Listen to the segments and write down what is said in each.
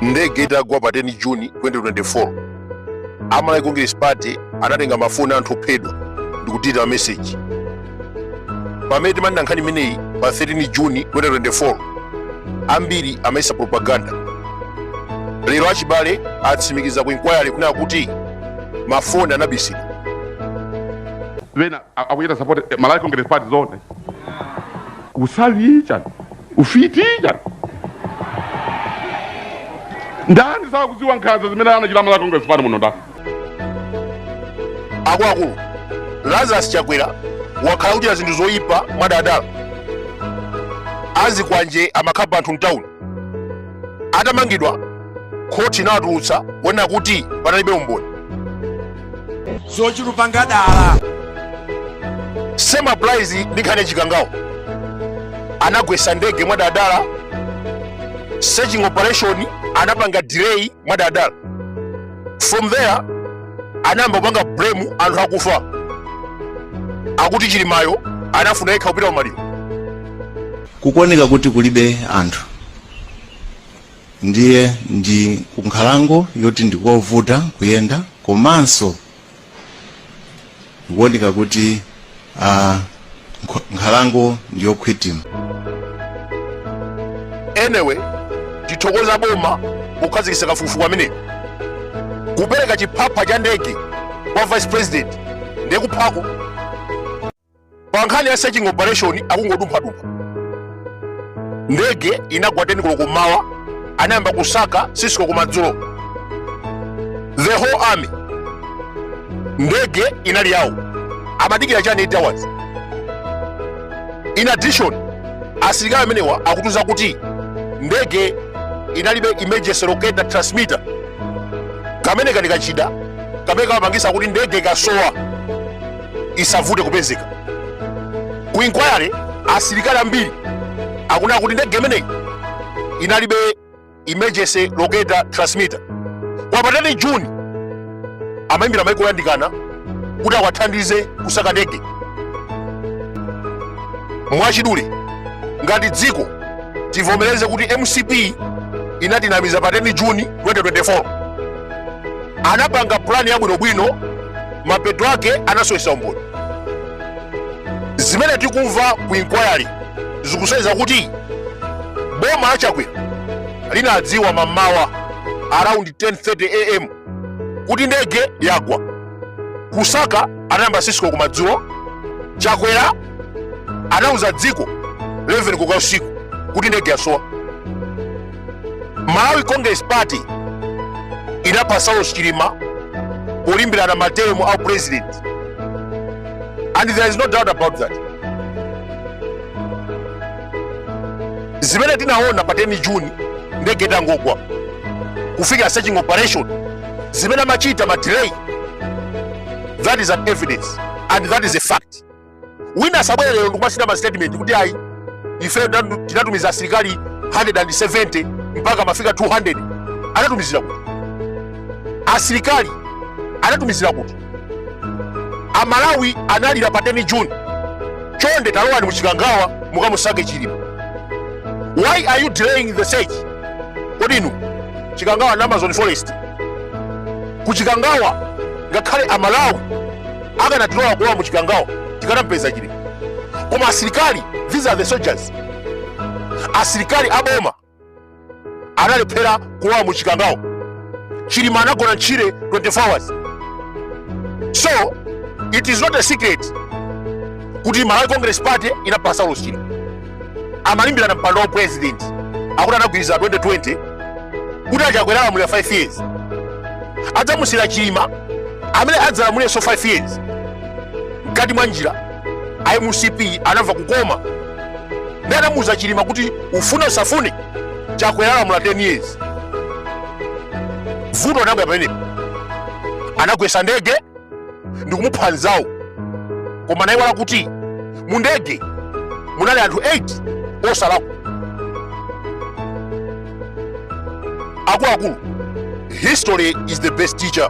ndege itagwa pa 10 juni 2024 amalawi congress party anatenga mafoni a anthu ophedwa ndikudilita mameseji pamene timanena nkhani imeneyi pa 13 juni 2024 ambiri amayesa propaganda lero achibale atsimikiza ku inquiry kunena kuti mafoni anabisidwa ena akuchita support eh, malawi congress party zone usavi chani ufiti chani ndani saakuziwa nkhanza zimene anachita malawi congress party muno ndani akuluakulu lazarus chakwera wakhala kuchita zinthu zoyipa mwadadala azikwanje amakhapa anthu mtawuni atamangidwa khoti inawatulutsa kuonera kuti panalibe umboni zochita kupanga dala same applies ndi nkhani ya chikangawo anagwesa ndege mwadadala searching operation anapanga delay mwadadala from there anayamba kupanga blame anthu akufa akuti chilimayo anafuna yekha kupita kumaliro kukuoneka kuti kulibe anthu ndiye ndi kunkhalango yoti ndikovuta kuyenda komanso ndikuoneka kuti ah, nkh- nkhalango ndiyokhwitima anyway tithokoza boma pokhazikitsa kafukufuku ameneyo kupereka chiphapha cha ndege kwa vice president ndiye kuphako pa nkhani ya searching operation akungodumphadumpha ndege inagwa 10 koloko kummawa anayamba kusaka sisiko kumadzulo the whole army ndege inali yawo amadikira chani 8 hours in addition asilikali amenewa akutiuza kuti ndege inalibe emergency locator transmitter kamene kali kachida kamene kamapangisa kuti ndege ikasowa isavute kupezeka ku inquiry asilikali ambiri akunena kuti ndege imeneyi inalibe emergency locator transmitter koma pa 10 juni amayimbira maiko oyandikana kuti awathandize kusaka ndege mwachidule ngati dziko tivomereze kuti mcp inatinamiza pa 10 juni 2024 anapanga pulani yabwinobwino mapeto ake anasowesa umboni zimene tikumva ku inquiry zikusonyeza kuti boma la chakwera linadziwa mamawa around 10:30 am kuti ndege yagwa kusaka anayamba 6 koloko kumadzulo chakwera anauza dziko 11 koloko usiku kuti ndege yasowa malawi congress party inapha saulos chilima polimbirana matemu a upresident and there is no doubt about that zimene tinaona pa 10 juni ndege itangogwa kufika searching operation zimene amachita ma delay that is an evidence and that is a fact wina asabwere lero ndikumasayina ma statement kuti ayi ife tinatu- tinatumiza asilikali 170 mpaka mafika 200 anatumizira kuti asilikali anatumizira kuti amalawi analira pa 10 juni chonde talowani muchikangawa mukamusake chilima why are you delaying the search kodi inu chikangawa ndi amazon forest kuchikangawa ngakhale amalawi akanatilola kulowa mu chikangawa tikanampeza chilima koma asilikali these are the soldiers asilikali aboma analephera kulowa mu chikangawa chilima anagona ntchire 24 hours so it is not a secret kuti malawi congress party inapha saulos chilima amalimbirana mpando wa president akuti anagwirizana 2020 kuti achakwera alamulira 5 years adzamusiyira chilima amene adzalamulirenso 5 years mkati mwa njira a mcp anamva kukoma nde anamuuza chilima kuti ufune usafune chakwera alamula 10 years vuto linabwera pamenepo anagwesa ndege ndikumupha mnzawo koma anayiwala kuti mu ndege munali anthu 8 osalakwa akuluakulu history is the best teacher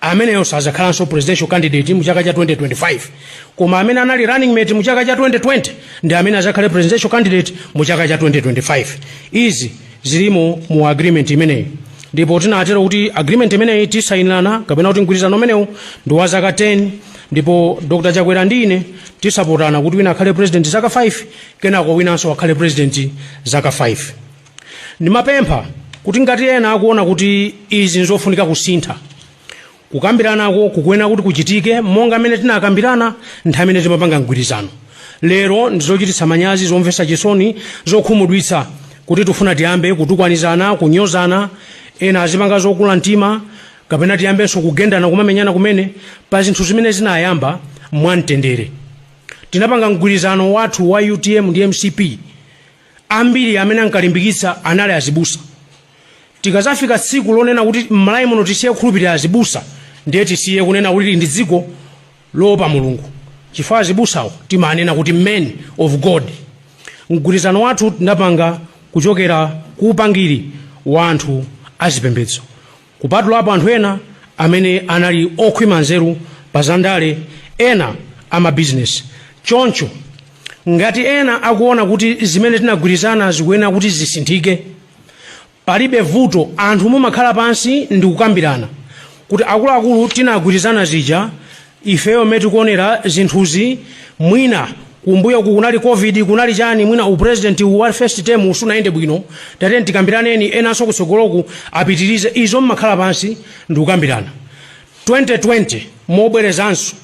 ameneyo sazakhalanso presidential candidate mu chaka cha 2025 koma amene anali running mate mu chaka cha 2020 ndi amene azakhale presidential candidate mu chaka cha 2025 izi zilimo mu agreement imeneyi ndipo tinatero kuti agreement imeneyi tisayinirana kapena kuti mgwirizano umenewu ndi wa zaka 10 ndipo dr chakwera ndi ine tizapatsana kuti wina akhale president zaka 5 kenako winanso akhale president zaka 5 ndimapempha kuti ngati ena akuona kuti izi nzofunika kusintha kukambiranako kukuyenera kuti kuchitike monga amene tinakambirana nthawi imene timapanga mgwirizano lero ndizochititsa manyazi zomvetsa chisoni zokhumudwitsa kuti tifuna tiyambe kutukwanizana kunyozana ena azipanga zokula mtima kapena tiyambenso kugendana kumamenyana kumene pa zinthu zimene zinayamba mwamtendere tinapanga mgwirizano wathu wa utm ndi mcp Ambiri amene ankalimbikitsa anali azibusa. Tikadzafika tsiku lonena kuti m'Malawi muno tisiye kukhulupirira azibusa, ndiye tisiye kunena kuti tili ndi dziko loopa Mulungu chifukwa azibusawo timanena kuti men of God. Mgwirizano wathu tinapanga kuchokera ku upangiri wa anthu azipembedzo. Kupatulapo anthu ena amene anali okhwima nzeru pa zandale, ena amabizinesi. Choncho, ngati ena akuona kuti zimene tinagwirizana zikuyenera kuti zisinthike, palibe vuto, anthu mumakhala pansi ndi kukambirana kuti akuluakulu, tinagwirizana zija, Ifeyo mmene tikuonera zinthuzi mwina kumbuyoku kunali Covid kunali chani mwina u president uwu wa first term uwu sunayende bwino tatiyeni tikambirane enanso kutsogoloku apitirize izo mmakhala pansi ndikukambirana 2020 mobwerezanso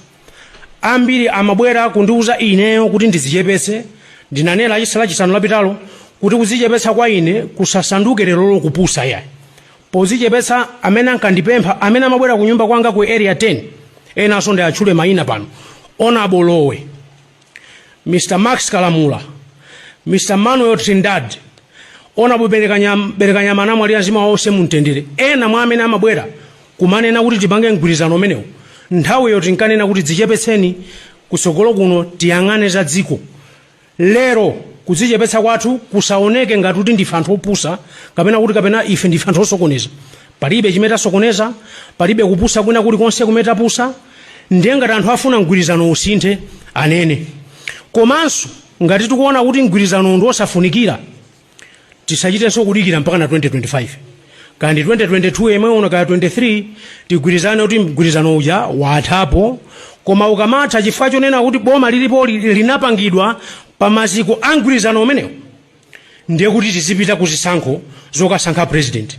ambiri amabwera kundiuza ineyo kuti ndidzichepetse ndinanena lachisa lachisanu lapitalo kuti kudzichepetsa kwa ine kusasanduke lerolo kupusa yayi Podzichepetsa amene ankandipempha amene amabwera kunyumba kwanga ku Area 10 enanso ndiatchule maina pano Hon. Lowe, Mr. Max Kalamula, Mr. Manuel Trindad, Hon. Belekanyama anamwalira mzimu wawo uuse mumtendere. Ena mwa amene amabwera kumanena kuti tipange mgwirizano umenewu nthawiyo tinkanena kuti dzichepetseni kutsogolo kuno tiyang'ane za dziko. Lero, kudzichepetsa kwathu kusaoneke ngati kuti ndife anthu opusa, kapena kuti kapena ife ndife anthu osokoneza. Palibe chimene tasokoneza, palibe kupusa kwina kulikonse kumene tapusa. Ndiye ngati anthu afuna mgwirizano usinthe, anene. Komanso, ngati tikuona kuti mgwirizanowu ndi wosafunikira, tisachitenso kudikira mpaka na 2025 kaya ndi 2022 yemwe uno kaya 23 tigwirizane kuti mgwirizano uja wathapo koma ukamatha chifukwa chonena kuti boma lilipoli linapangidwa pa maziko a mgwirizano umenewo ndiye kuti tizipita ku zisankho zokasankha president